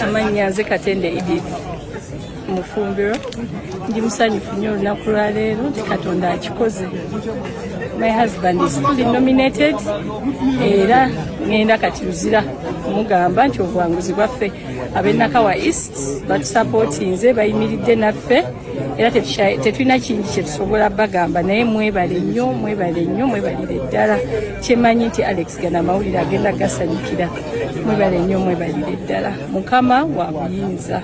amannya nze katende edith mufumbiro ndi musanyufu nnyo olunaku lwaleero nti katonda akikoze my husband is fully nominated era ngenda kati luzira kumugamba nti obuwanguzi bwaffe abenakawa east batusapotinze bayimiridde naffe era tetulina kingi kyetusobola bagamba naye mwebale nnyo mwebale nnyo mwebalire ddala kyemanyi nti alex gana amawulire agenda gasanyukira mwebale nnyo mwebalire ddala mukama wa buyinza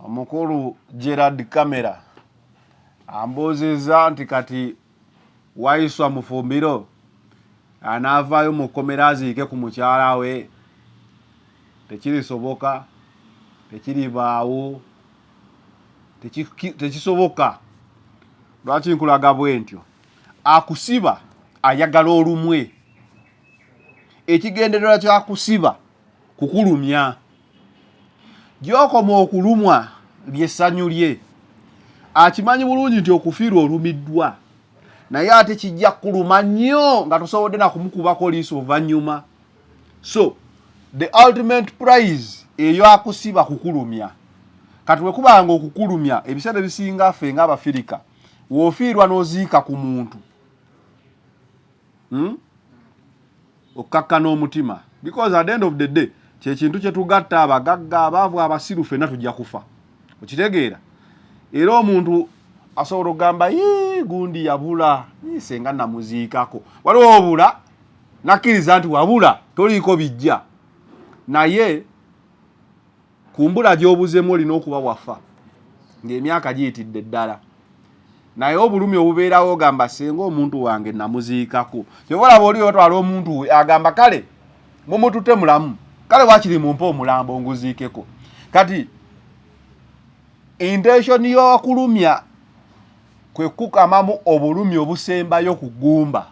omukulu gerard camera ambuuzizza nti kati Waiswa Mufumbiro anaavaayo mu kkomera aziike ku mukyala we? Tekirisoboka, tekiribaawo, tekisoboka. Lwaki nkulaga bwe ntyo? Akusiba ayagala olumwe. Ekigendererwa kyakusiba kukulumya gyokoma okulumwa lyessanyu lye akimanyi bulungi nti okufiirwa olumiddwa naye ate kijja kuluma nnyo nga tosobodde nakumukubako liiso oluvannyuma so the ultimate prize eyo akusiba kukulumya kati wekubanga okukulumya ebiseera ebisinga ffe nga abafirika wofiirwa noziika ku muntu hmm? okkakkana omutima because at the end of the day kyekintu kyetugatta abagagga abaavu abasiru fenna tujja kufa okitegeera era omuntu asobola okugamba gundi yabula senga namuziikako waliwo obula nakkiriza nti wabula toliiko bijja naye kumbula gyobuzemu olina okuba wafa ng'emyaka giyitidde ddala naye obulumi obubeerawo ogamba senga omuntu wange namuziikako kyobalaba oli otwala omuntu we agamba kale mumutute mulamu kale wakiri mumpe omulambo nguziikeko kati intention yokulumya kwekukamamu obulumi obusembayo ku gumba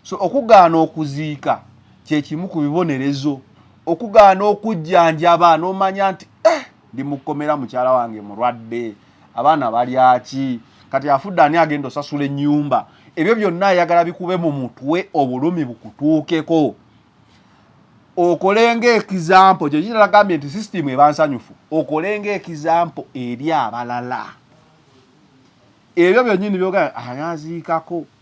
so okugaana okuziika kyekimu ku bibonerezo okugaana okujjanjaba nomanya nti eh, ndi mukomera mukyala wange mulwadde abaana balyaki kati afudde ani agenda osasula enyumba ebyo byonna ayagala bikube mu mutwe obulumi bukutuukeko okolenga ekizampo kyekiragambye nti sisitimu ebansanyufu okolenga ekizampo eri abalala ebyo byonyini byogana ayaziikako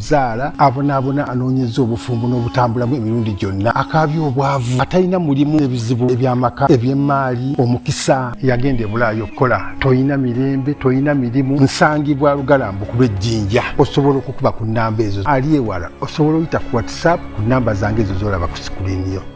zaala abonaabona anoonyeza obufumbo n'obutambulamu emirundi gyonna akaabya obwavu atalina mulimu ebizibu ebyamaka eby'emmaali omukisa yagenda ebulaayo okukola tolina mirembe tolina mirimu nsangibwa lugalambu kuba ejjinja osobola okukuba ku nnamba ezo ali ewala osobola oyita ku whatsapp ku nnamba zange ezo zolaba ku sikuliiniyo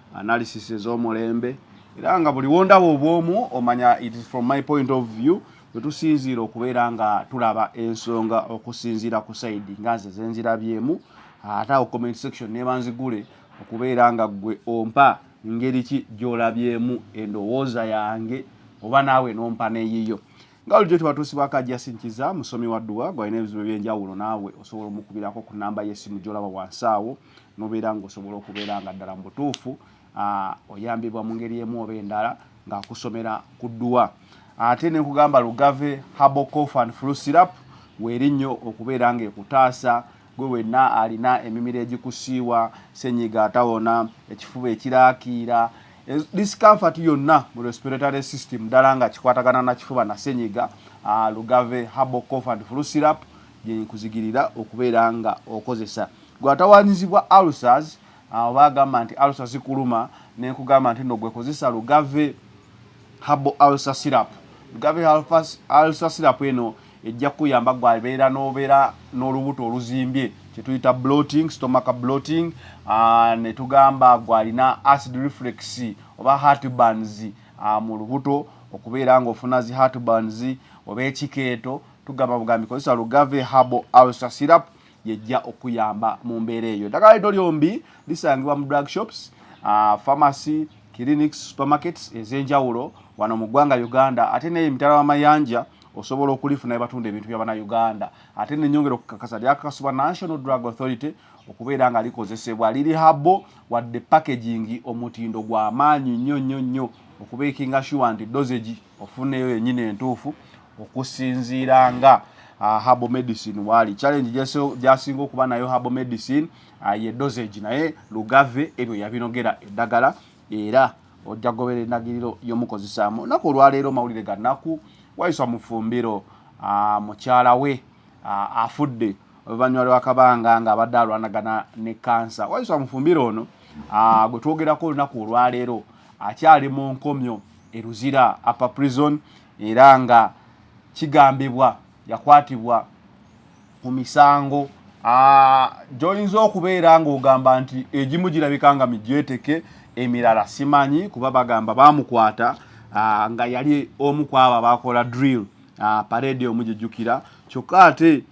analysis ez'omulembe era nga buli wondaba obwomu omanya it is from my point of view wetusinziira okubeera nga tulaba ensonga okusinziira ku saidi nga nze zenzirabyemu ate awo comment section nebanzigule okubeera nga gwe ompa ngeri ki gyolabyemu endowooza yange oba naawe nompa neyiyo nga lujo tebatuusibwako ajasin kiza musomi wa dduwa gwalina ebizibu ebyenjawulo naawe osobola omukubirako ku namba yesimu gyolaba wansi awo nobeera nga osobola okubeera nga ddala mu butuufu ah, oyambibwa mu ngeri emu oba endala ng'akusomera ku dduwa ate ne nkugamba lugave habocof and flu syrup weeri nnyo okubeera ng'ekutaasa gwe wenna alina emimiro egikusiiwa senyiga atawona ekifuba ekiraakiira discomfort yonna mu respiratory system ddala nga kikwatagana na kifuba na senyiga ah, lugave habocof and flu syrup gyenkuzigirira okubeera nga okozesa Gwe atawanyizibwa ulcers awo bagamba nti ulcer zikuluma nenkugamba nti no gwe kozesa lugave habo ulcer syrup lugave ulcer syrup eno ejja kuyamba gwe abeera nobeera n'olubuto oluzimbye kyetuyita bloating stomaka bloating ah, netugamba gwe alina acid reflex oba heartburns ah, mu lubuto okubeera ngaofuna zi heartburns oba ekikeeto tugamba bugambi kozesa lugave habo ulcer syrup yejja okuyamba mu mbeera eyo eddagala lino lyombi lisangibwa mu drug shops uh, pharmacy clinics supermarkets ez'enjawulo wano mu ggwanga uganda ate naye emitala w'amayanja osobola okulifuna ebatunda ebintu bya banauganda ate nenyongera okukakasa lyakakasibwa national drug authority okubeera nga likozesebwa liri habo wadde packaging omutindo gwamaanyi nnyo nnyo nnyo okubeekinga shuwa nti dosage ofuneeyo yennyini entuufu okusinziira nga uh, herbal medicine waali challenge gyasinga okuba nayo herbal medicine uh, ye dosage naye lugave ebyo yabinogera eddagala era ojja gobera endagiriro y'omukozesaamu naku olwaleero mawulire ga naku wayiswa mufumbiro uh, mukyala we uh, afudde oluvannyuma lwakabanga nga abadde alwanagana ne kansa wayiswa mufumbiro ono uh, gwe twogerako olunaku olwaleero akyali mu nkomyo eruzira apa prison era nga kigambibwa yakwatibwa ku misango gyoyinza okubeera ng'ogamba nti egimu girabika nga migyeteke emirala simanyi kuba bagamba bamukwata nga yali omu ku abo abakola drill parade omu gyejjukira kyokka ate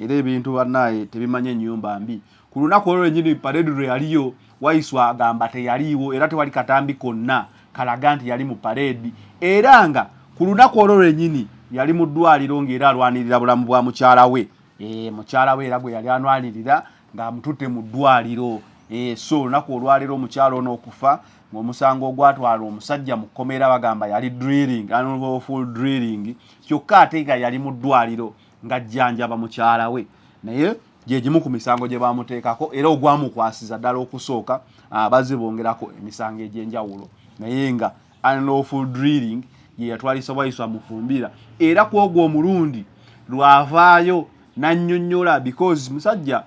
era ebintu bannaye tebimanyi ennyumba mbi Ku lunaku olwo lwennyini pareedi lwe yaliyo, Waiswa agamba teyaliiwo era tewali katambi konna kalaga nti yali mu pareedi era nga ku lunaku olwo lwennyini yali mu ddwaaliro ng'era alwanirira bulamu bwa mukyala we. Eh, mukyala we era gwe yali anwanirira ng'amututte mu ddwaaliro. Eh, so olunaku olwaleero omukyala ono okufa ng'omusango ogwatwala omusajja mu kkomera bagamba yali drilling, unlawful drilling, kyokka ate nga yali mu ddwaaliro ng'ajjanjaba mukyala we naye gye gimu ku misango gye baamuteekako era ogwamukwasiza ddala okusooka ah, bazze bongerako emisango egy'enjawulo naye nga unlawful drilling ye yatwalisa waiswa mufumbira era ku ogwo omulundi lwavaayo n'annyonnyola because musajja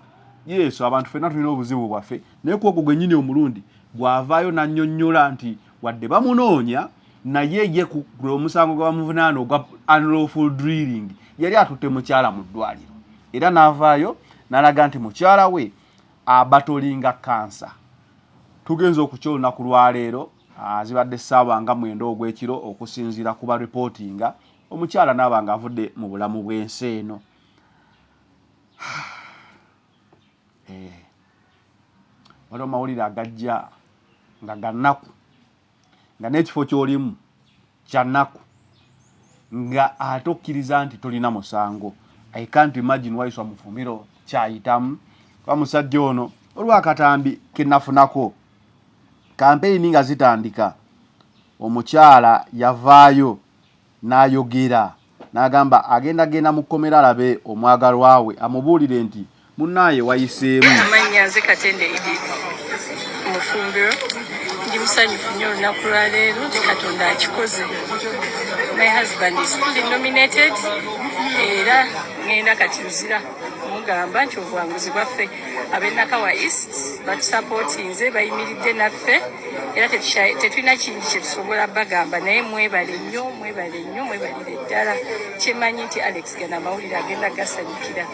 yesu abantu fenna tulina obuzibu bwaffe naye ku ogwo gwennyini omulundi gwavaayo n'annyonnyola nti wadde bamunoonya naye ye ku omusango gwa muvunaana ogwa unlawful drilling yali atutte mukyala mu ddwaliro era n'avaayo n'alaga nti mukyala we abatolinga kansa tugenza okukya olunaku lwaleero ah, zibadde ssaawa nga mwenda ogw'ekiro okusinziira ku ba ripootinga omukyala naaba nga avudde mu bulamu bw'ensi eno eh, waliwo mawulire agajja nga gannaku nga n'ekifo ky'olimu kyanaku nga ate okkiriza nti tolina musango i can't imagine why some fumiro kyayitamu kuba musajja ono olwakatambi kenafunako kampeyini nga zitandika omukyala yavaayo N'ayogera, n'agamba, agenda genda mu kkomera alabe omwagalwa we, amubuulire nti, Munnaaye, wayiseemu. Amannya, Nze Katende Edith Mufumbiro. Ndi musanyufu nnyo olunaku lwa leero nti Katonda akikoze. My husband is fully nominated era ngenda kati Luzira. mugamba nti obuwanguzi bwaffe abenakawa east batusapotinze bayimiridde naffe era tetulina kingi kyetusobola bagamba naye mwebale nnyo mwebale nnyo mwebalire ddala kyemanyi nti alex gana amawulire agenda gasanyukira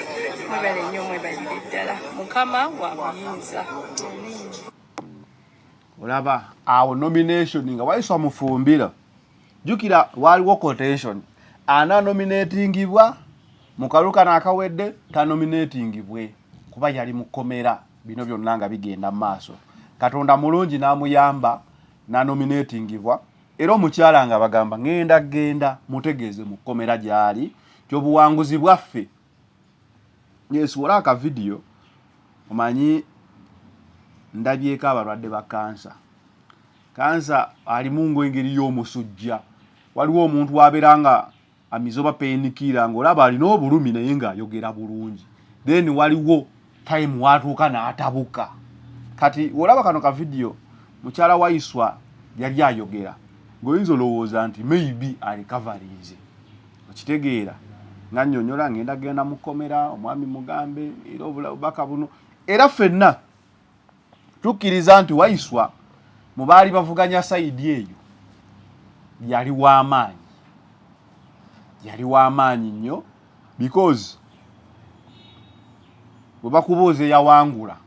mwebale nnyo mwebalire ddala mukama wa buyinza olaba awo nomination nga wayiswa mufumbira jukira waliwo quotation ana nominatingibwa mu kalulu kano akawedde tanominatingibwe kuba yali mukomera bino byonna nga bigenda mu maaso katonda mulungi n'amuyamba nanominatingibwa era omukyala nga bagamba ngenda genda mutegeeze mu kkomera gyali kyobuwanguzi bwaffe ngesuula akavidiyo omanyi ndabyeko abalwadde ba kansa kansa alimu ngaengeri y'omusujja waliwo omuntu wabeera nga amize oba penikiira ng'olaba alina obulumi naye ng'ayogera bulungi then waliwo time watuuka n'atabuka kati olaba kano ka vidiyo mukyala waiswa yali ayogera ng'oyinza olowooza nti maybe alikavarinze okitegeera nga nnyonyola ng'enda genda mu kkomera omwami mugambe era obubaka buno era ffenna tukkiriza nti waiswa mu baali bavuganya sayidi eyo yali w'amaanyi yali w'amaanyi nnyo because bwe bakubuuza eyawangula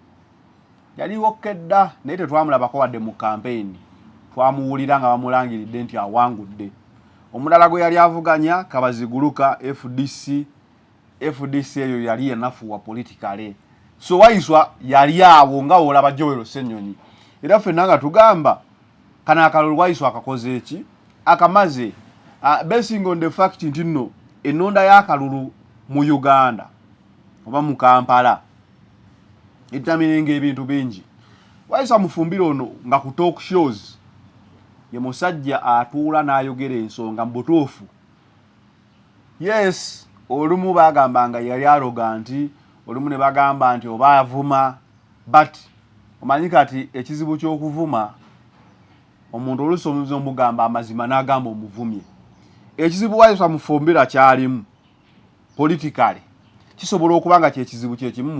yaliwo kedda naye tetwamulabako wadde mu kampeyini twamuwulira nga bamulangiridde nti awangudde omulala gwe yali avuganya kabaziguluka fdc FDC eyo yali enafuwa politically so waiswa yali awo nga olaba Joel Senyonyi era fenna nga tugamba kana akalulu waiswa akakoze eki akamaze uh, basing on the fact nti no enonda y'akalulu mu Uganda oba mu Kampala etamirenga ebintu bingi waiswa mufumbire ono nga ku talk shows ye musajja atuula n'ayogera ensonga mu butuufu yes olumu bagamba nga yali aloga nti olumu ne bagamba nti oba avuma but omanyi kati ekizibu ky'okuvuma omuntu oluusi omuzi omugamba amazima n'agamba omuvumye ekizibu wayisa mufumbira kyalimu politikale kisobola okuba nga kyekizibu kyekimu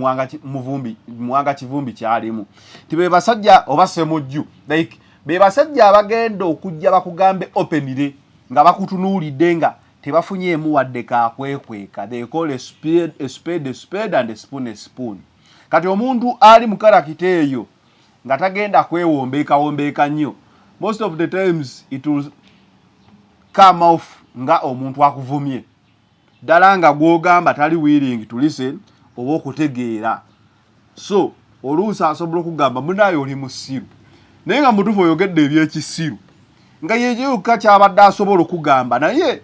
muwanga kivumbi kyalimu nti be basajja oba semujju like be basajja abagenda okujja bakugambe openire nga bakutunuulidde nga tebafunyeemu wadde kakwekweka they call a spade, a spade, a spade and a spoon, a spoon. kati omuntu ali mu karakita eyo nga tagenda kwewombeekawombeeka nnyo most of the times it will come off nga omuntu akuvumye ddala nga gw'ogamba tali willing to listen oba okutegeera so oluusi asobola okugamba munaayo oli musiru naye nga mutuufu oyogedde ebyekisiru nga yekyo yokka kyabadde asobola okugamba naye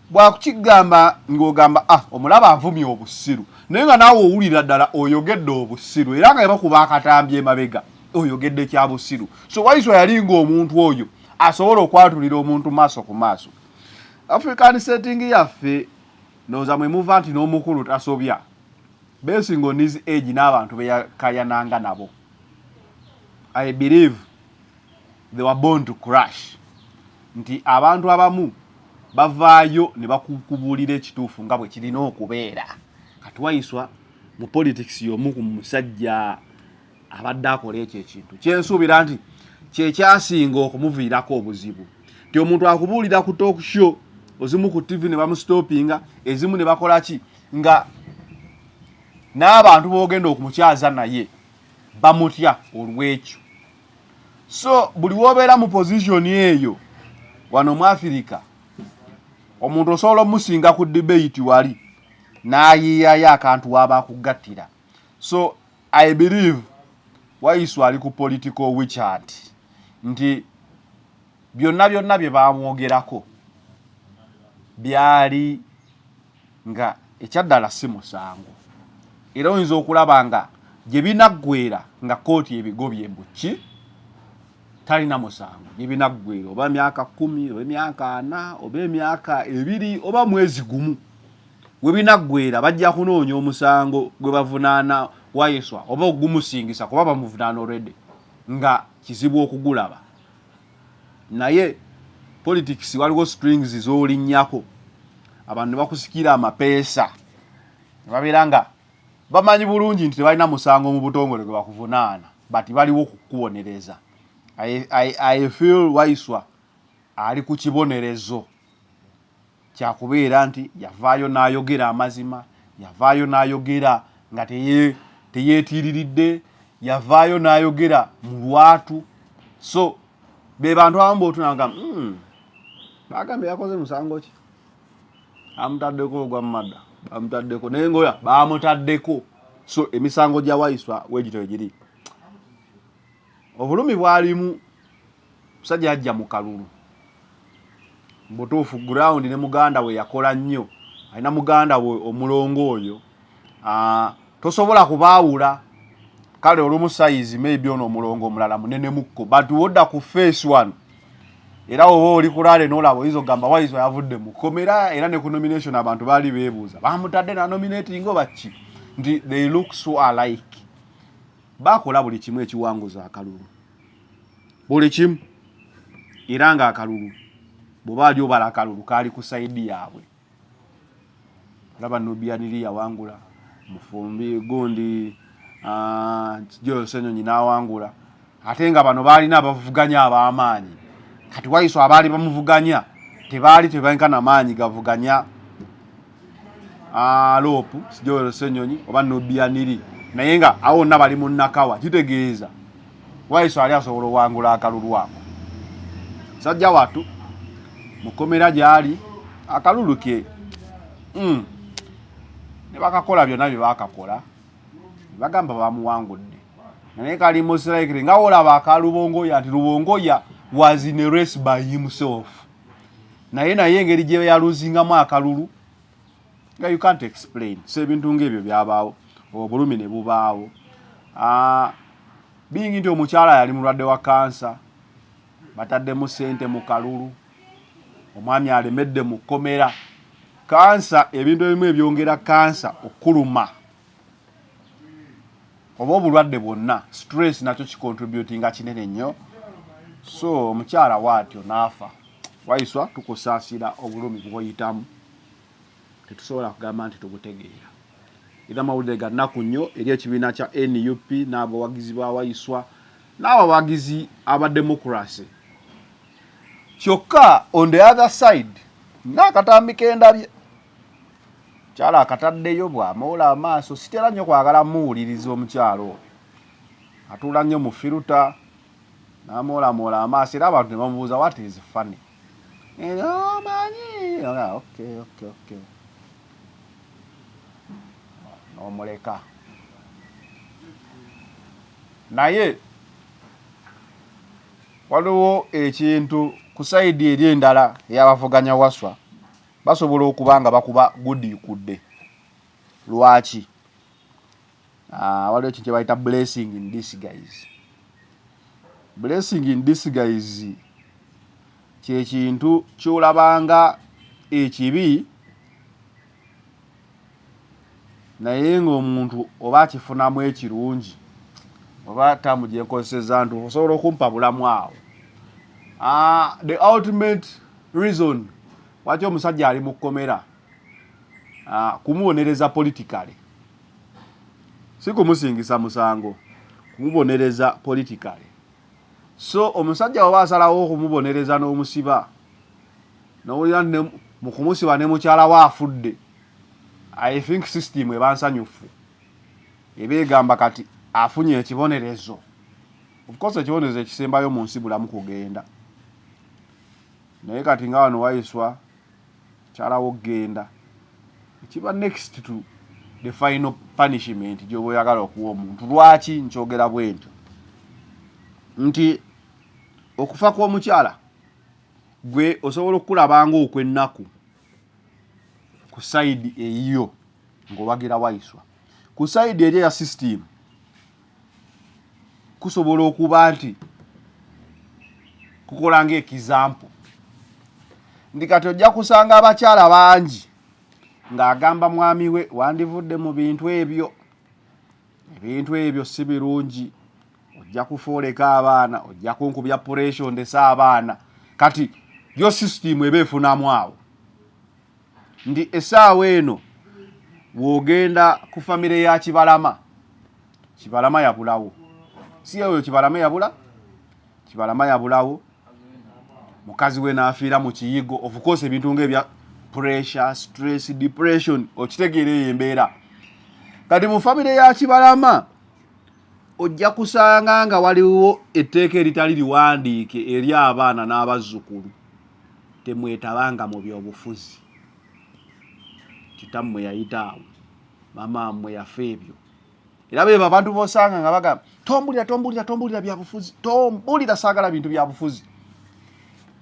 bwakukigamba ng'ogamba ah omulaba avumya obusiru naye nga naawe owulira ddala oyogedde obusiru era nga bakuba akatambi emabega oyogedde kya busiru so waiswa yali ng'omuntu oyo asobola okwatulira omuntu maaso ku maaso african setting yaffe noza mwemuva nti n'omukulu tasobya basing on his age n'abantu beyakayananga nabo i believe they were born to crash nti abantu abamu bavaayo ne bakukubuulira ekituufu nga bwe kirina okubeera kati wayiswa mu politics y'omu ku musajja abadde akola ekyo ekintu kyensuubira nti kyekyasinga okumuviirako obuzibu nti omuntu akubuulira ku talk show ozimu ku tv ne bamustoppinga ezimu ne bakola ki nga n'abantu boogenda okumukyaza naye bamutya olw'ekyo so buli wobeera mu pozisioni eyo wano mu afirika omuntu osobola omusinga ku debate wali n'ayiyayo akantu waaba akugattira so I believe Wayisu ali ku political wichat nti byonna byonna bye baamwogerako byali nga ekyaddala si musango era oyinza okulaba nga gye binaggwera nga kkooti ebigobye mbuki talina musango gye binaggwera oba myaka kumi oba emyaka ana oba emyaka ebiri oba mwezi gumu Webinaggweera bajja kunoonya omusango gwe bavunaana Waiswa oba ogumusingisa kuba bamuvunaana already nga kizibu okugulaba. Naye politics waliwo strings z'olinnyako abantu ne bakusikira amapeesa ne babeera nga bamanyi bulungi nti tebalina musango mu butongole gwe bakuvunaana but baliwo kukubonereza. I, I, I feel Waiswa ali ku kibonerezo. kyakubeera nti yavaayo n'ayogera amazima yavaayo n'ayogera nga teyeetiiriridde yavaayo n'ayogera mu lwatu so be bantu abamu bootunanga hmm, bagambye yakoze musango ki amutaddeko ogwa mumada bamutaddeko naye ngaoya bamutaddeko so emisango gya waiswa wegito egiri obulumi bwalimu musajja yajja mu kalulu mbutuufu ground ne muganda we yakola nnyo alina muganda we omulongo oyo ah, tosobola kubaawula kale olumu sayizi maybe ono omulongo omulala munenemukko but wodda ku face one era oba oli kulaale nolaba oyinza okugamba wayizo yavudde mu komera era ne ku nomination abantu baali beebuuza bamutadde na nominating oba ki nti they look so alike bakola buli kimu ekiwanguza akalulu buli kimu era nga akalulu bweba ali obala akalulu kaali ku saidi yaabwe olaba nubianiri yawangula mufumbi gundi ah, jose nyonyi nawangula ate nga bano baalina abavuganya abamaanyi kati waiso abaali bamuvuganya tebaali tebankana maanyi gavuganya ah, loopu sijoero senyonyi oba nubianiri naye nga awo wonna bali mu nakawa kitegeeza waiso ali asobola owangula akalulu ako sajja watu mukomera gyali akalulu ke mm. ne bakakola byonna bye bakakola bagamba bamuwangudde naye kali mosiraikiri nga wolaba akalubongoya nti lubongoya was in a race by himself naye naye engeri gye yaluzingamu akalulu nga you can't explain so ebintu ng'ebyo byabaawo obulumi ne bubaawo ah, bingi nti omukyala yali mulwadde wa kansa bataddemu sente mu kalulu omwami alemedde mu kkomera kansa ebintu ebimu ebyongera kansa okuluma oba obulwadde bwonna stress nakyo kicontributinga kinene nnyo so omukyala waatyo naafa waiswa tukusaasira obulumi bwoyitamu tetusobola kugamba nti tugutegeera era amawulire ga nnaku nnyo eri ekibiina kya nup n'abawagizi ba waiswa n'abawagizi aba democracy kyokka on the other side ng'akatambi kendabye kyalo akataddeyo bw'amoola amaaso sitera nnyo kwagala muwuliriza omukyalo oyo atuula nnyo mu firuta n'amoolamoola amaaso era abantu ne bamubuuza what is funny omanyi n'omuleka naye waliwo ekintu ku sayidi eri endala eyabavuganya waswa basobola okuba nga bakuba gudiikudde lwaki ah, waliwo ekintu kyebayita blessing in disguise blessing in disguise kyekintu kyolabanga ekibi naye ng'omuntu oba akifunamu ekirungi oba taamu gye nkozeseza nti osobola okumpa bulamu awo ah, the ultimate reason waki omusajja ali mu kkomera ah, kumubonereza politikale si kumusingisa musango kumubonereza politikale so omusajja waba asalawo okumubonereza n'omusiba nowulira mu kumusiba ne mukyala we afudde i think system eba nsanyufu eba egamba kati afunye ekibonerezo ofcourse ekibonerezo ekisembayo mu nsi bulamu kugenda naye kati nga wano wayiswa kyalawo genda ekiba next to the final punishment gyoba oyagala okuwa omuntu lwaki nkyogera bwentyo nti okufa kw'omukyala gwe osobola okukulabanga okwennaku ku sayidi eyiyo ng'owagira waiswa ku sayidi eri eya sisitiimu kusobola okuba nti kukola ngaekizampu nti kati ojja kusanga abakyala bangi ng'agamba mwami we wandivudde mu bintu ebyo ebintu ebyo si birungi ojja kufooleka abaana ojja kunkubya puresho ndese abaana kati yo sisitimu eba efunamu awo nti esaawa eno wogenda ku famire ya kibalama kibalama yabulawo si oyo kibalama yabula kibalama yabulawo mukazi we naafiira mu kiyigo ofukosa ebintu ngaebya pressure stress depression okitegeera eyo embeera kati mu famire ya kibalama ojja kusanga nga waliwo etteeka eritali liwandiike eri abaana n'abazzukulu temwetabanga mu byobufuzi kitammwe yayita awo mama mmwe yafa ebyo era bebo abantu bosanga nga bagamba tombulira tombulira tombulira byabufuzi tombulira saagala bintu byabufuzi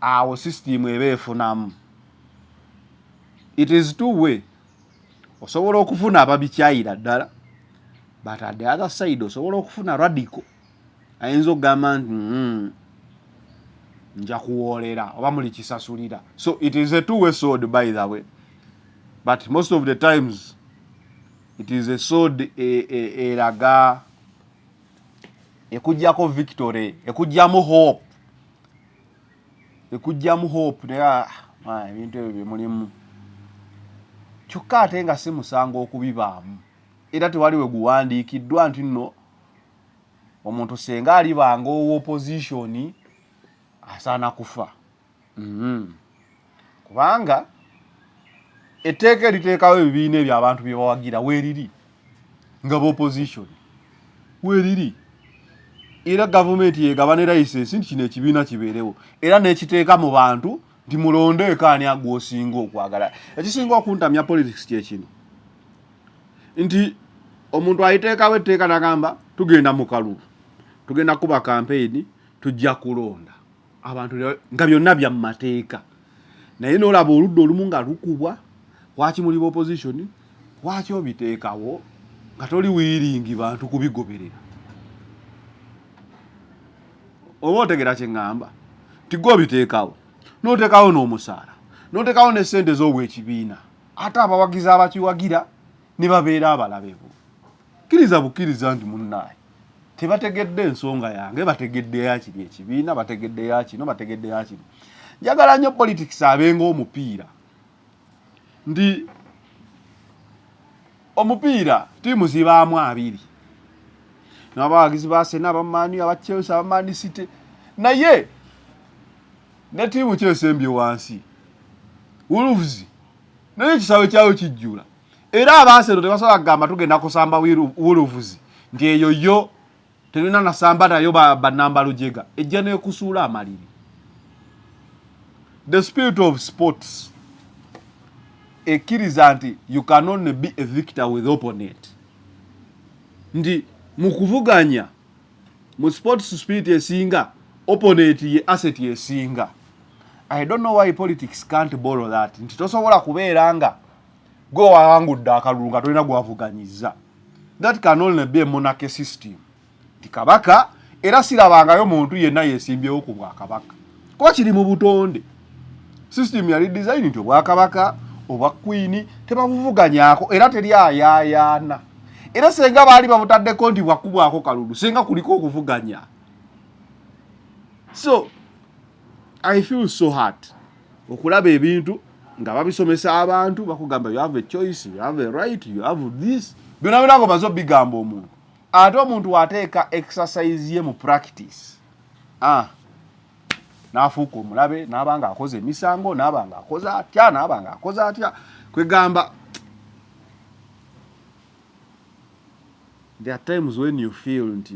awo sisitimu eba efunamu it is two way osobola okufuna ababikyayira ddala but at the other side osobola okufuna radical ayinza okugamba nti mm, nja kuwoolera oba muli kisasulira so it is a two way sword by the way but most of the times it is a sword e, e, eraga ekujjako victory ekujjamu hope ekujjamu hope naye ah, ah, ebintu ebyo byemulimu kyokka ate nga si musango okubibaamu era tewali we guwandiikiddwa nti nno omuntu senga alibanga owa opposition asaana kufa mm -hmm. kubanga etteeka eriteekawo ebibiina ebyo abantu bye bawagira weeriri nga bopposition weeriri era gavumenti yegabane layisensi nti kino ekibiina kibeerewo era n'ekiteeka mu bantu nti mulondeeko ani agwosinga okwagala ekisinga okuntamya politics kyekino nti omuntu ayiteekawo etteeka nagamba tugenda mu kalulu tugenda kuba kampeyini tujja kulonda abantu nga byonna bya mu mateeka naye nolaba oludda olumu nga lukubwa kwaki muli bopozitioni kwaki obiteekawo nga toli wiiringi bantu kubigoberera oba otegera kyeŋŋamba nti gwe obiteekawo n'oteekawo n'omusaala n'oteekawo ne ssente z'obwekibiina ate abawagizi abakiwagira ne babeera abalabe bo kkiriza bukkiriza nti munnaaye tebategedde ensonga yange bategedde yakiri ekibiina bategedde yakino bategedde yakino njagala nnyo politics abenga omupiira nti omupiira ttiimu zibaamu abiri nabawagizi ba sena abamaani aba chelsea abamaani city naye ne ttiimu kyesembye wansi wolves naye ekisaawe kyayo kijjula era abaasero tebasobola kugamba tugenda kusamba wolves nti eyo yo Terina nasamba nayo ba banamba lujega. Ejja ne kusula amaliri. The spirit of sports ekiriza nti you can only be a victor with opponent. Ndi mukuvuganya mu sports spirit esinga opponent ye asset esinga. I don't know why politics can't borrow that. Nti tosobola kubeera nga gwe wawangudde akalulu nga tolina gwavuganyiza. That can only be a monarchy system. Ti kabaka era sirabangayo muntu yenna yesimbyewo ku bwakabaka kuba kiri mu butonde. System yali design nti obwakabaka obwa kwini tebabuvuganyako era teri ayayaana era senga baali babutaddeko nti bwakubwako kalulu senga kuliko okuvuganya so i feel so hard okulaba ebintu nga babisomesa abantu bakugamba you have a choice you have a right you have this byona byona ngo bazo bigamba omuntu ate omuntu wateeka exercise ye mu practice ah nafuuka omulabe naaba nga akoze emisango naaba nga akoze atya naaba nga akoze atya kwegamba there are times when you feel nti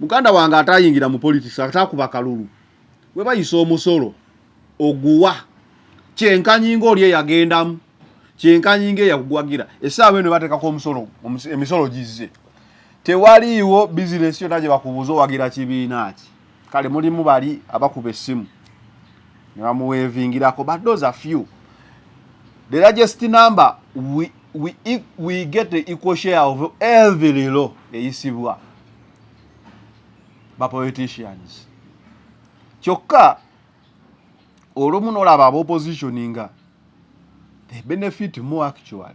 muganda wange atayingira mu politics atakuba kalulu we bayisa omusolo oguwa kyenkanyi ng'oli eyagendamu kyenkanyi ng'eyakugwagira essaawa eno bateekako omusolo emisolo gizze tewaliiwo bizinesi yonna gye bakubuuza owagira kibiina ki kale mulimu bali abakuba essimu ne bamuweevingirako but those are few the largest number we, we, e, we get the equal share of every law eyisibwa ba politicians kyokka olumu nolaba aba opposition nga they benefit more actually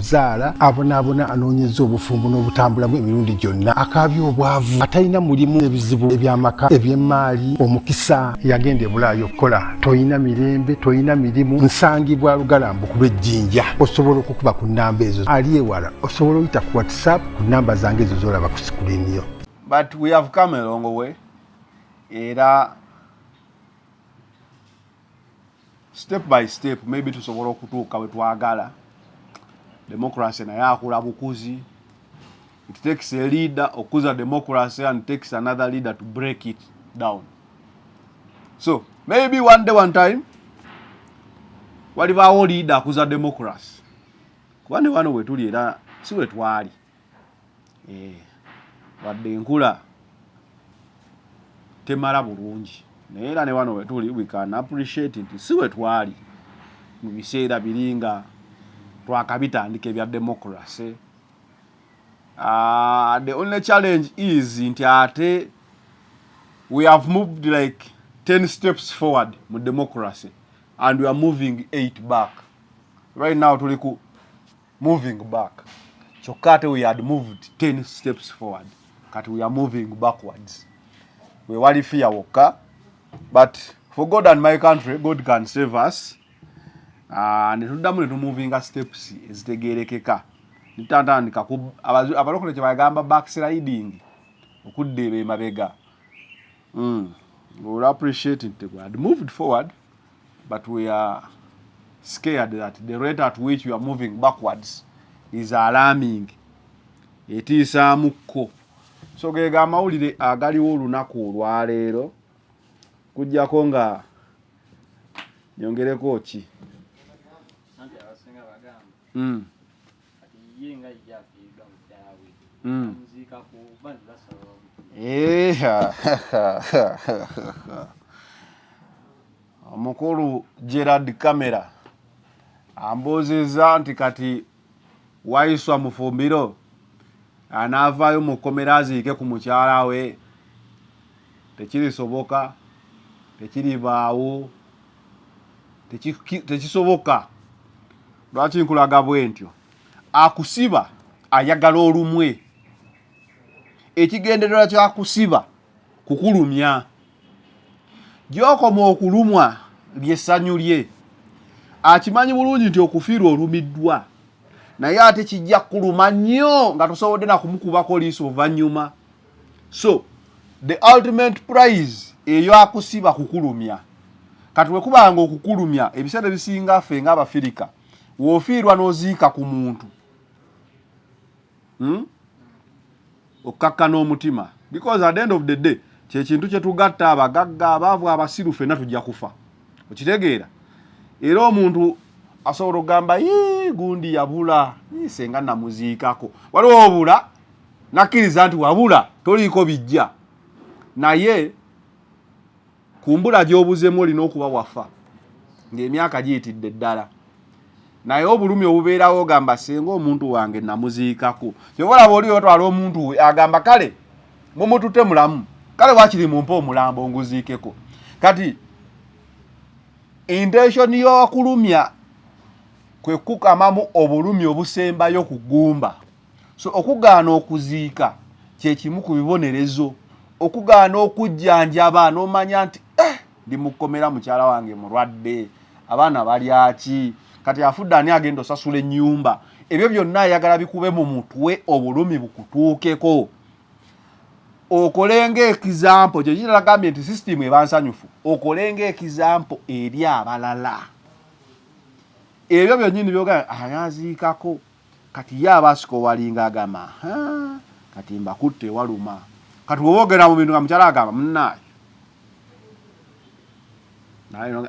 zaala abonaabona anoonyeza obufumbo n'obutambula bwe emirundi gyonna akaabya obwavu atalina mulimu ebizibu ebyamaka eby'emmaali omukisa yagenda ebulaayo okukola tolina mirembe tolina mirimu nsangibwa lugalambu kuba ejjinja osobola okukuba ku nnamba ezo ali ewala osobola oyita ku whatsapp ku nnamba zange ezo zolaba ku sikulini yo but we have come along way era step by step maybe tusobola okutuuka we twagala democracy naye akula bukuzi it takes a leader okuza democracy and takes another leader to break it down so maybe one day one time walibaawo leader akuza democracy kuba ne wano wetuli era si wetwali eh, wadde enkula temala bulungi naye era ne wano wetuli we can appreciate nti si we twali mu biseera biri nga twakabitandika ebya democracy uh, the only challenge is nti ate we have moved like 10 steps forward mu democracy and we are moving 8 back right now tuli ku moving back kyokka ate we had moved 10 steps forward kati we are moving backwards we wali fear wokka but for god and my country god can save us ah, netuddamu netumuvinga steps ezitegerekeka nitantandika abalokole kyebagamba backsliding okudda ebe emabega mm. well, appreciate it, had moved forward but we are scared that the rate at which you are moving backwards is alarming etiisaamukko so gega amawulire agaliwo olunaku olwaleero kujjako nga nyongereko ki mm. omukulu gerard camera ambuuzizza nti kati waiswa mufumbiro anaavaayo mu kkomera aziike ku mukyala we tekirisoboka tekiribaawo tekisoboka lwaki nkulaga bwentyo akusiba ayagala olumwe ekigendererwa kyakusiba kukulumya gyokoma okulumwa lyessanyu lye akimanyi bulungi nti okufiirwa olumiddwa naye ate kijja kuluma nnyo nga tosobodde nakumukubako liiso oluvannyuma so the ultimate prize eyo akusiba kukulumya kati wekuba nga okukulumya ebiseera ebisinga ffe nga abafirika wofiirwa noziika ku muntu hmm? okkakkana omutima because at the end of the day kyekintu kyetugatta abagagga abaavu abasiru fenna tujja kufa okitegeera era omuntu asobola okugamba gundi yabula senga namuziikako waliwo obula nakkiriza nti wabula toliiko bijja naye kumbula gy'obuzemu olina okuba wafa ng'emyaka giyitidde ddala naye obulumi obubeerawo ogamba singa omuntu wange namuziikako kyoba olaba oli otwala omuntu we agamba kale mumutute mulamu kale wakiri mumpe omulambo nguziikeko kati intention y'okulumya kwe kukamamu obulumi obusembayo ku ggumba so okugaana okuziika kyekimu ku bibonerezo okugaana okujjanjaba nomanya nti eh, ndi mukomera mukyala wange mulwadde abaana balyaki kati afudde ani agenda osasula enyumba ebyo byonna ayagala bikube mu mutwe obulumi bukutuukeko okolenga ekizampo kyekitalagambye nti sisitimu ebansanyufu okolenga ekizampo eri abalala ebyo byonyini byogaa ayaziikako kati ye aba asikowalinga agamba kati mbakutte ewaluma kati wewogera mu bintu nga mukyala agamba munaayo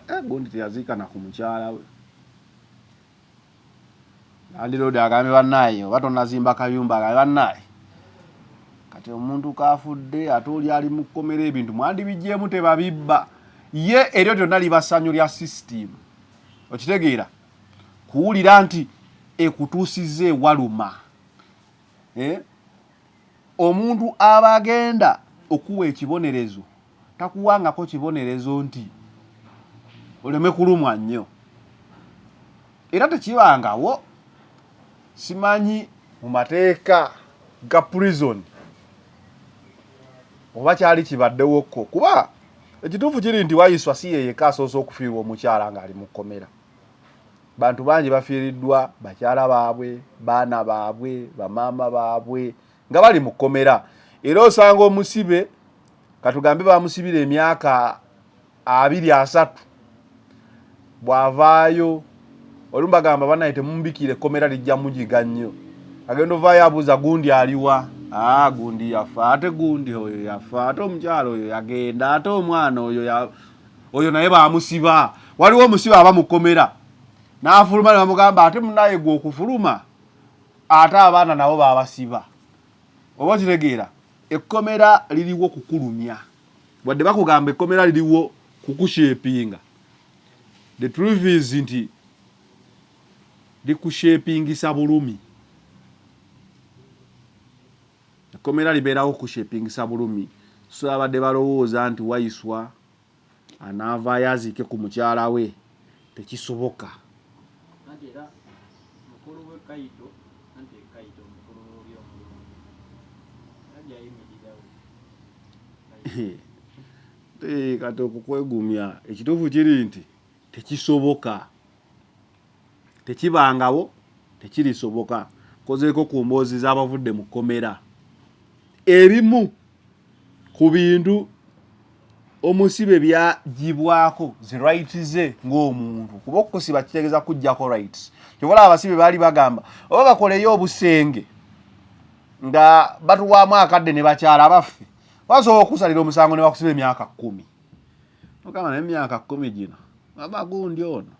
eh, gundi teyaziikana ku mukyala we andirodi agambe banaaye oba tonazimba kayumba agambe banaaye kati omuntu kafudde ate oli ali mu kkomera ebintu mwandibijjeemu tebabibba ye eryo lyonna liba ssanyu lya sisitiimu okitegeera kuwulira nti ekutuusizza ewaluma eh? omuntu aba agenda okuwa ekibonerezo takuwangako kibonerezo nti oleme kulumwa nnyo era tekibangawo simanyi mu mateeka ga prison oba kyali kibaddewokko kuba ekituufu kiri nti wayiswa si yeyeka asoose okufiirwa omukyala ng'ali mu kkomera bantu bangi bafiiriddwa bakyala baabwe baana baabwe bamaama baabwe nga bali mu kkomera era osanga omusibe katugambe bamusibira emyaka abiri asatu bw'avaayo olumu bagamba banaye temumubikira ekkomera lijja mugiga nnyo agenda ovaayo abuuza gundi aliwa aa ah, gundi yafa ate gundi oyo yafa ate omukyalo oyo yagenda ate omwana oyo oyo naye bamusiba waliwo omusiba aba mukomera nafuluma ne bamugamba ate munaye gwe okufuluma ate abaana nabo babasiba oba okitegeera ekkomera liriwo kukulumya wadde bakugamba ekkomera liriwo kukushepinga the truth is nti likushepingisa bulumi Ekkomera libeerawo kushepingisa bulumi so babadde balowooza nti Waiswa anaavaayo aziike ku mukyala we tekisoboka. Anti era mukulu we Kaito anti Kaito mukulu w'obi omulungi era gy'ayimirirawo Kaito. Kati okukwegumya ekituufu kiri nti tekisoboka. tekibangawo tekirisoboka kozeeko ku mboozi z'abavudde mu kkomera ebimu ku bintu omusibe byagibwako zi right ze ng'omuntu kuba okukusiba kitegeeza kujjako rights kyobola abasibe baali bagamba oba bakoleyo obusenge nga batuwaamu akadde ne bakyala baffe basobola okukusalira omusango ne bakusiba emyaka kkumi ogamba naye emyaka kkumi gino aba gundi ono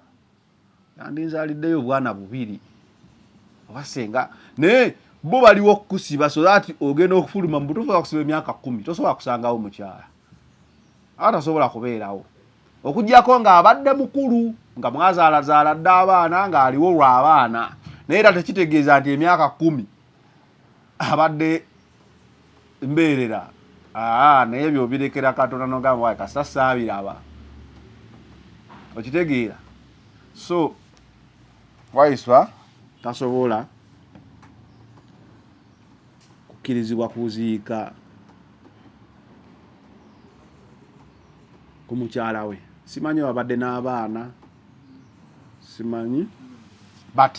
yandinzaliddeyo obwana bubiri oba senga naye bo baliwo okukusiba so that ogenda okufuluma mu butuufu okusiba emyaka kumi tosobola kusangawo mukyala aba tasobola kubeerawo okugyako ng'abadde mukulu nga mwazaalazaala dda abaana ng'aliwo lwa baana naye era tekitegeeza nti emyaka kumi abadde mbeerera aa naye ebyo obirekera katonda nogamba wae kasita saabiraba okitegeera so waiswa tasobola kukkirizibwa kuziika ku mukyala we simanyi babadde n'abaana simanyi but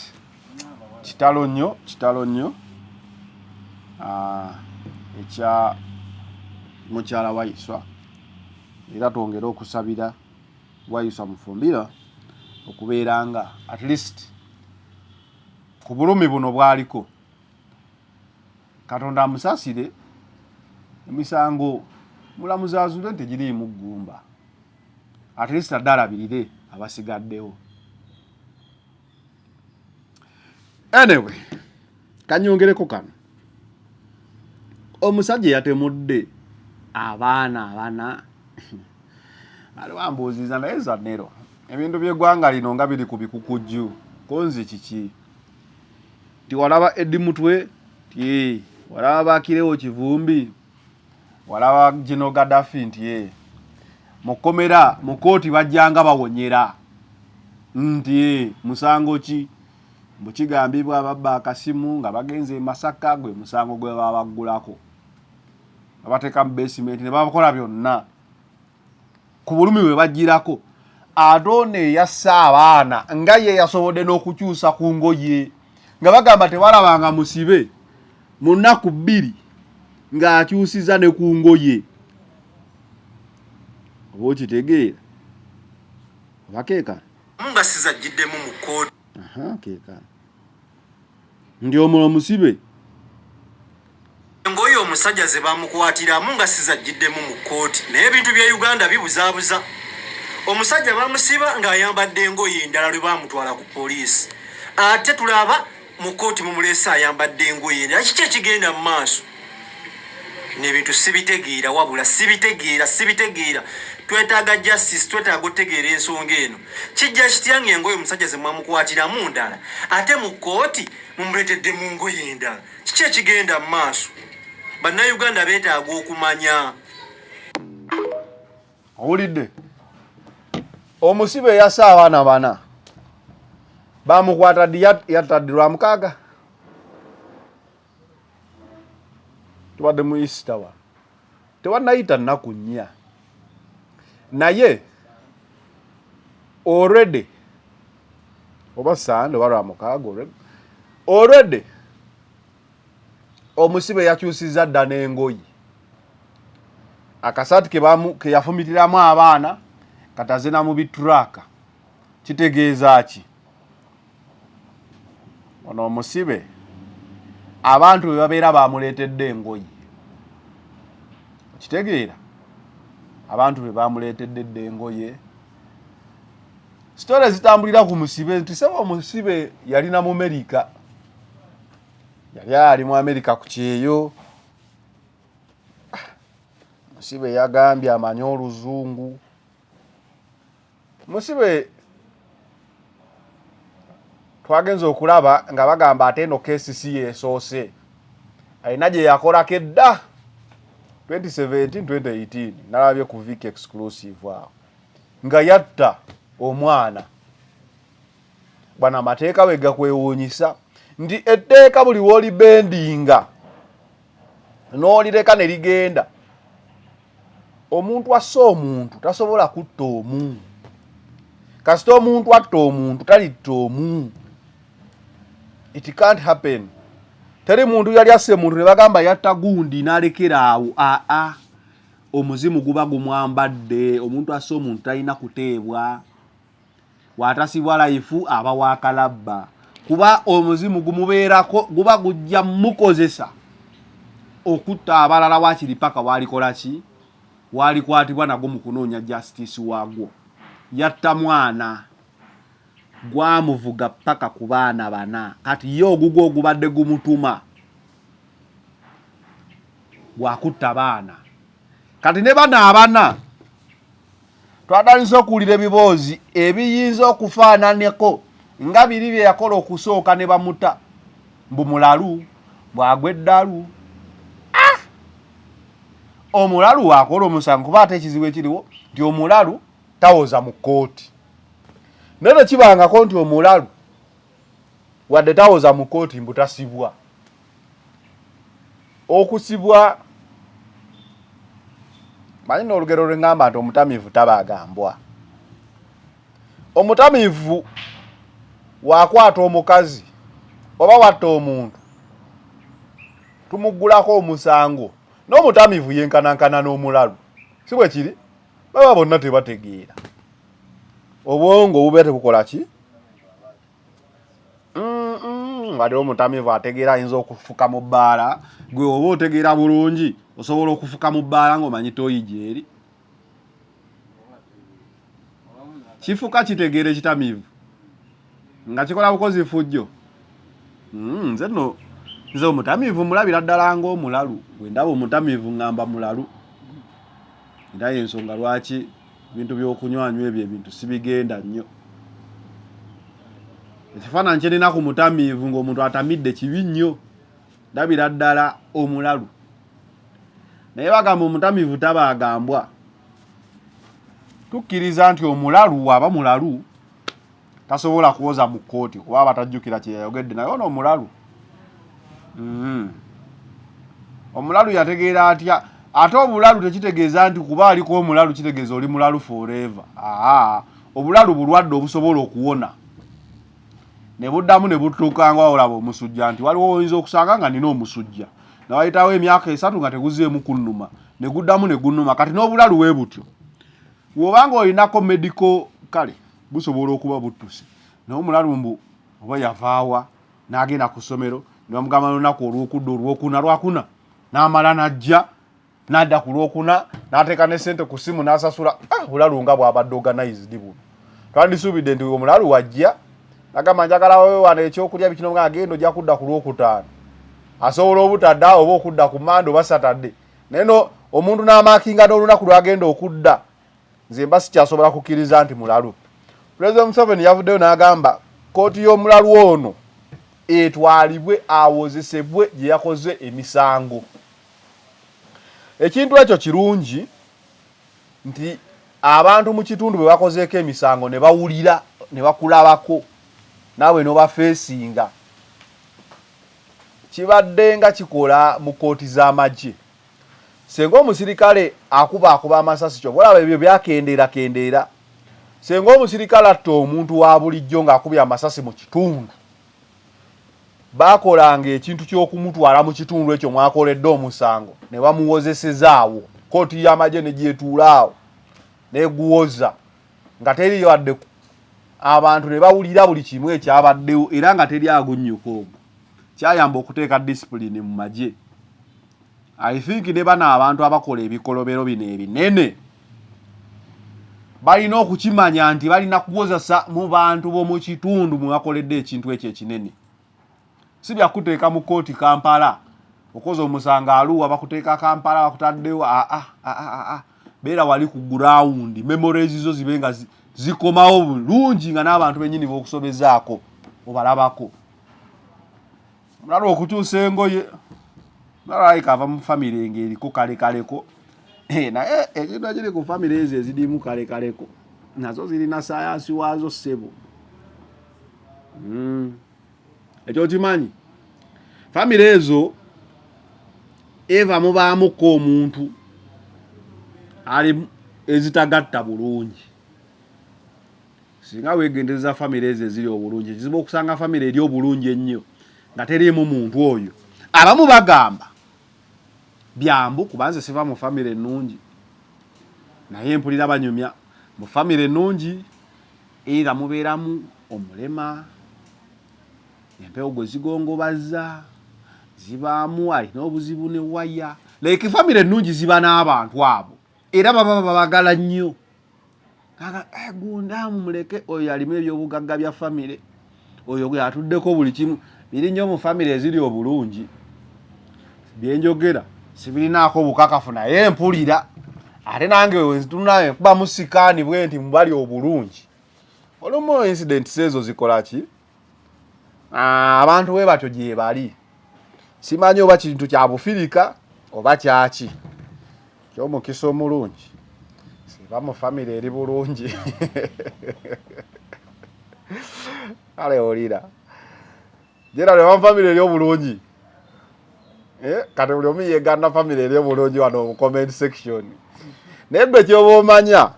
kitalo nnyo kitalo nnyo ah, ekya mukyala wayiswa era twongere okusabira wayiswa mufumbira okubeera nga at least ku bulumi buno bwaliko katonda amusasire emisango mulamuzi azule nti giriimu ggumba at least adde alabirire abasigaddewo anyway kanyongereko kano omusajja yatemudde abaana abana ali wambuuziza naye zanero ebintu by'eggwanga lino nga biri ku bikukujju konzi kiki tiwalaba edimutwe ti walaba bakirewo kivumbi walaba gino gadafi nti e eh, mukomera mu kooti bajjanga bawonyera nti e eh, musango ki mbu kigambibwa babba akasimu nga bagenze e masaka gwe musango gwe babaggulako babateeka mu basementi ne babakola byonna ku bulumi bwe bajjirako ate ono eyasse abaana nga ye yasobodde n'okukyusa ku ngoye nga bagamba tebalabanga musibe mu nnaku bbiri ng'akyusiza ne ku ngoye oba okitegeera oba keekana nga sizajjiddemu mu kkooti keekana ndi omulo musibe engoye omusajja ze bamukwatiramu nga sizajjiddemu mu kkooti naye ebintu bya uganda bibuzaabuza omusajja bamusiba ng'ayambadde engoye endala lwe bamutwala ku poliisi ate tulaba mu kkooti mumuleese ayambadde engoye endala kiki ekigenda mu maaso nebintu sibitegeera wabula sibitegeera sibitegeera twetaaga justice twetaaga otegeera ensonga eno kijja kitya nga engoye omusajja zemwamukwatiramu ndala ate mu kooti mumuletedde mu ngoye endala kiki ekigenda mu maaso bannayuganda betaaga okumanya owulidde omusibe eyasa abaana bana bamukwata ddi yatta ddi lwamukaaga tubadde mu easter wa tewanayita nnaku nnya naye already oba sande oba lwamukaaga olweg already omusibe yakyusiza dda n'engoyi akasaati keyafumitiramu abaana kataze na mu bituraaka kitegeeza ki ono omusibe abantu bwe babeera bamuleetedde engoye okitegeera abantu be bamuleetedde dda engoye sitore zitambulira ku musibe nti saba omusibe yalina mu merika yali ali mu amerika ku kyeyo musibe yagambye amanye oluzungu musibe twagenze okulaba nga bagamba ate eno kesi si yesoose alina gye yakolako edda 2017 2018 nalabye ku vic exclusive awo nga yatta omwana bwana amateeka we gakwewuunyisa nti etteeka buli w'olibendinga n'olireka ne ligenda omuntu asse omuntu tasobola kutta omu kasita omuntu atta omuntu talitta omu it can't happen teri muntu yali asse muntu ne bagamba yatta gundi n'alekera awo aa omuzimu guba gumwambadde omuntu asse omuntu talina kuteebwa bw'atasibwa layifu aba wa kalabba kuba omuzimu gumubeerako guba gujja mukozesa okutta abalala wakiri paka walikola ki walikwatibwa nagwo mu kunoonya justice waagwo yatta mwana gwamuvuga paka ku baana bana kati ye ogugwo ogubadde gumutuma gwakutta baana kati ne bano abana twatandise okuwulira ebiboozi ebiyinza okufaananeko nga biri bye yakola okusooka ne bamuta mbu mulalu bwagwa eddalu ah! omulalu waakola omusango kuba ate ekizibu ekiriwo nti omulalu tawoza mu kkooti naye tekibangako nti omulalu wadde tawoza mu kkooti mbu tasibwa okusibwa manyi n'olugero lwe ŋŋamba nti omutamiivu taba agambwa omutamiivu wakwata omukazi oba watta omuntu tumuggulako omusango n'omutamiivu yenkanankana n'omulalu si bwe kiri baba bonna tebategeera obwongo obubeera tebukola ki ngate omutamivu ategeera ayinza okufuka mu bbaala gwe oba otegeera bulungi osobola okufuka mu bbaala ngaomanyi toyi gyeri kifuka kitegeera ekitamivu nga kikola bukozi fujjo hmm, nze no nze omutamivu mulabira ddala ngaomulalu wendaba omutamivu ngamba mulalu era yensonga lwaki ebintu byokunywanyu ebyo ebintu sibigenda nnyo ekifaananyi kyerina ku mutamiivu ngaomuntu atamidde kibi nnyo ndabira ddala omulalu naye bagamba omutamiivu tabaagambwa tukkiriza nti omulalu waaba mulalu tasobola kuwoza mu kkooti kuba abatajjukira kye yayogedde naye ono omulalu mm-hmm. omulalu yategeera atya ate obulalu tekitegeeza nti kuba aliko omulalu kitegeeza oli mulalu forever aa obulalu bulwadde obusobola okuwona ne buddamu ne butuuka nga olaba omusujja nti waliwo oyinza okusanga nga nina omusujja nawayitawo emyaka esatu nga teguzeemu kunnuma ne guddamu ne gunnuma kati n'obulalu wee butyo wobanga olinako medical kale busobola okuba buttuse naye omulalu mbu oba yavaawa n'agenda ku ssomero ne bamugamba n'olunaku olwokudda olwokuna lwakuna n'amala n'ajja n'adda ku lwokuna n'ateeka ne ssente ku ssimu n'asasula ah, bulalu nga bwabadde organized buno twandisuubidde nti omulalu wajja nagamba njagala wewana ekyokulya bikino nga agenda ojja kudda ku lwokutaano asobola obutadda oba okudda ku mande oba satadde naye no omuntu n'amaakinga n'olunaku lwagenda okudda nze mba sikyasobola kukkiriza nti mulalu pulezidenti museveni yavuddeyo n'agamba kkooti y'omulalu ono etwalibwe awozesebwe gye yakoze emisango ekintu ekyo kirungi nti abantu mu kitundu bwe bakozeeko emisango ne bawulira ne bakulabako naawe n'obafeesinga kibaddenga kikola mu kkooti z'amagye senga omusirikale akuba akuba amasasi kyoba olaba ebyo byakendeera kendeera senga omusirikale atta omuntu wa bulijjo ng'akubye amasasi mu kitundu baakolanga ekintu ky'okumutwala mu kitundu ekyo mwakoledde omusango ne bamuwozesezaawo kooti y'amagye ne gyetuulaawo neguwoza nga teriyo wadde abantu ne bawulira buli kimu ekyabaddewo era nga teri agunnyuka ogwo kyayamba okuteeka disipulini mu magye i think ne bano abantu abakola ebikolobero bino ebinene balina okukimanya nti balina kukozesa mu bantu b'omu kitundu mwe bakoledde ekintu ekyo ekinene si byakuteeka mu kooti kampala okoze omusango aluwa bakuteeka kampala bakutaddewo aa ah, aa ah, ah, beera wali ku gurawundi memories zo zibe nga zikomawo bulungi nga n'abantu benyini bokusobezaako obalabako mulala okukyusa engoye nalaika ava mu famire nga eriko kalekaleko eh, naye ekintu eh, ekiri ku famire ezo ezirimu kalekaleko nazo zirina sayansi waazo ssebo mm. ekyo okimanyi famire ezo eva mubaamuko omuntu ali ezitagatta bulungi singa wegendereza famire ezo eziri obulungi kizibu okusanga famire eri obulungi ennyo nga teriimu muntu oyo abamu bagamba byambu kubanze siva mu famire ennungi naye mpulira banyumya mu famire ennungi eitha mubeeramu omulema empewo gwe zigongobazza zibaamu alina obuzibu ne waya like famire ennungi ziba n'abantu abo era baba babagala nnyo kaka eh, gundaamu muleke oyo alimu ebyobugagga bya famire oyo gwe atuddeko buli kimu biri nnyo mu famire eziri obulungi byenjogera sibirinaako bukakafu naye mpulira ate nange wenzitunulae kuba musikaani bwe nti mubali obulungi olumu incidents ezo zikola ki ah, abantu we batyo gyebali simanyi oba kintu kya bufirika oba kyaki kyomukisa omulungi siba mu famire eri bulungi kale olira jera lwe famire eri obulungi eh, kati buli omu yeganna famire eri obulungi wano mu comment section naye gwe kyoba omanya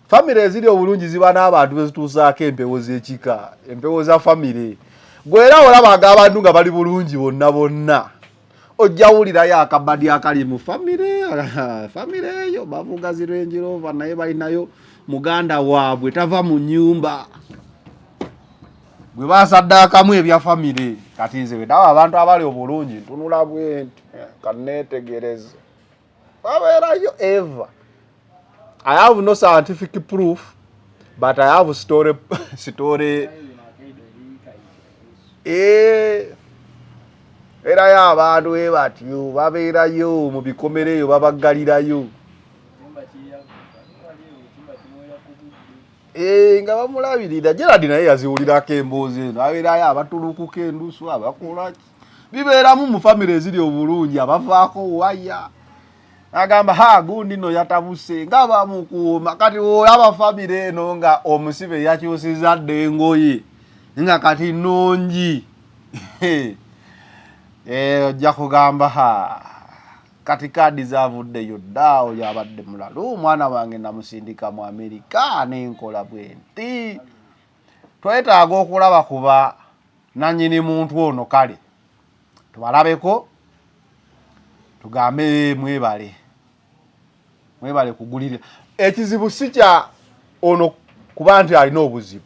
famire eziri obulungi ziba n'abantu bezituusaako empewo z'ekika empewo za famire gwe era olabaga abantu nga bali bulungi bonna bonna ojja wulirayo akabadi akali mu famire famire eyo bavuga zirenjirova naye balinayo muganda waabwe tava mu nyumba gwe basaddaakamu ebya famire kati nze wedawo abantu abali obulungi ntunula bwenti kaneetegereze babeerayo ever i have no scientific proof but i have story story eh, erayo abantu e batyo babeerayo mu bikomera eyo babaggalirayo eh, nga bamulabirira gerard naye yaziwulirako emboozi eno abeerayo abatulukuka endusu abakolaki bibeeramu mu famire eziri obulungi abavaako waya agamba ha gundi no yatabuse nga bamukuuma kati olaba famire eno nga omusibe yakyusiza dda engoye nga kati nungi eh, ojja kugamba ha kati kaadi zavuddeyo dda oyo abadde mulalu omwana wange namusindika mu amerika nenkola bwenti twetaaga okulaba kuba nanyini muntu ono kale tubalabeko tugambe mwebale mwebale kugulirira ekizibu si kya ono kuba nti alina obuzibu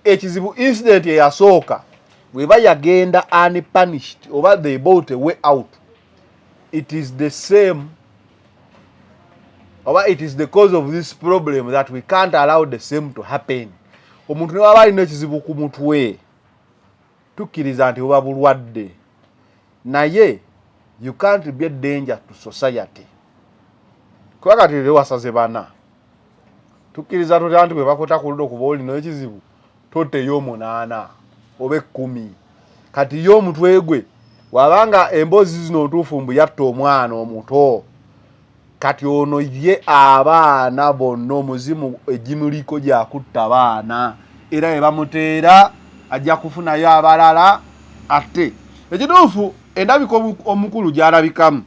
ekizibu incident eyasooka weba yagenda unpunished oba they bought a way out it is the same oba it is the cause of this problem that we can't allow the same to happen omuntu newaba alina ekizibu ku mutwe tukkiriza nti buba bulwadde naye you can't be a danger to society kuba kati era wasaze bana tukkiriza tutya nti bwe bakweta ku ludo kuba olina ekizibu toteyo omunaana oba ekkumi kati ye omutwe gwe wabanga emboozi zino ntuufu mbu yatta omwana omuto kati ono ye abaana bonna omuzimu egimuliko gyakutta baana era ebamuteera ajja kufunayo abalala ate ekituufu endabika omukulu gyalabikamu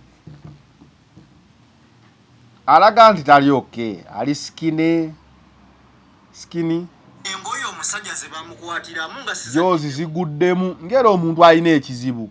alaga nti tali oke ali sikine sikini engoye omusajja zebamukwatiramu nga jozi ziguddemu ngera omuntu alina ekizibu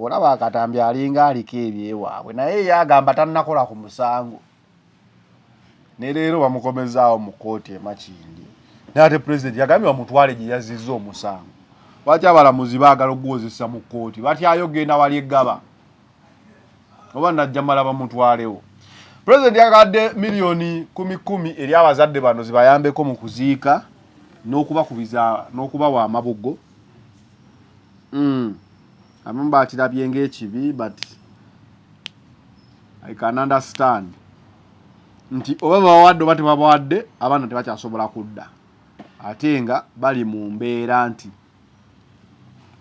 olaba eh, akatambi alinga aliko ebyewaabwe naye ye agamba tanakola ku musango ne leero bamukomezaawo mu kkooti emakindi naye ate pulezidenti yagambye bamutwale gye yazizza omusango lwaki abalamuzi baagala okuguwozesa mu kkooti batyayo genda wali eggaba oba najjamala bamutwalewo pulezidenti yagadde miliyoni kumi kumi eri abazadde bano zibayambeko mu kuziika n'okubakubiza n'okubawa amabugo mm. abamu bakirabye ngaekibi but i can understand nti oba babawadde oba tebabawadde abaana tebakyasobola kudda ate nga bali mu mbeera nti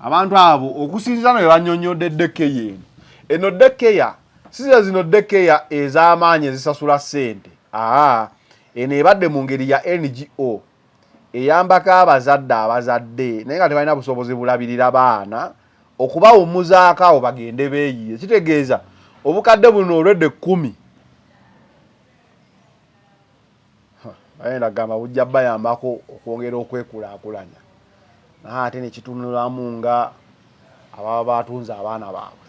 abantu abo okusinzira no bebanyonyodde dekeya eno eno dekeya size zino dekeya ez'amaanyi ezisasula ssente aa eno ebadde mu ngeri ya ngo eyambako abazadde abazadde naye nga tebalina busobozi bulabirira baana okubawumuzaako awo bagende beeyiye kitegeeza obukadde buno olwedde kkumi ayenda kugamba bujja bayambako okwongera okwekulaakulanya naye ate nekitunulamu nga ababa batunze abaana baabwe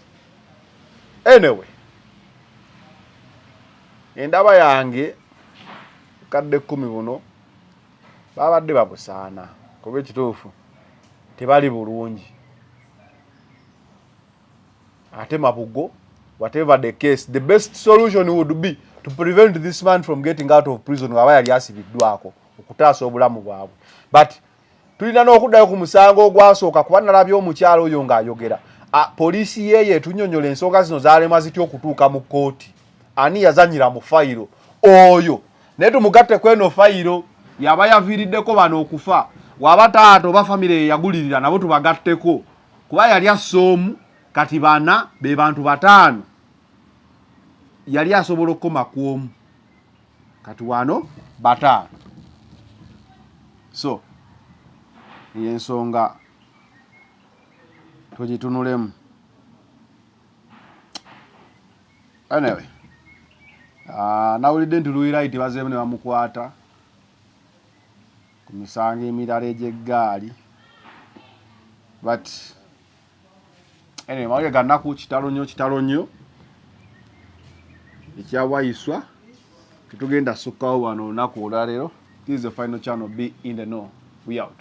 anyway endaba yange kadde kkumi buno babadde babusaana kuba ekituufu tebali bulungi ate mabugo whatever the case the best solution would be to prevent this man from getting out of prison aba yali asibiddwako okutaasa obulamu bwabwe but tulina n'okuddayo ku musango ogwasooka kuba nalabye omukyalo oyo ng'ayogera poliisi yeeyo etunyonyola ensonga zino zalemwa zitya okutuuka mu kkooti ani yazanyira mu fayiro oyo naye tumugatte kweno fayiro yaba yaviiriddeko bano okufa waba taata oba famire yeyagulirira nabo tubagatteko kuba yali assa omu kati bana be bantu bataano yali asobola okukoma ku omu kati wano bataano so eyo ensonga tugitunulemu anyway ah, nawulidde nti luiraiti bazeemu ne bamukwata ku misango emirala egy'eggaali but Anyway, mawulire ga nnaku kitalo nnyo kitalo nnyo ekyawayiswa tetugenda sukkawo wano olunaku olwaleero this is the final channel be in the know we out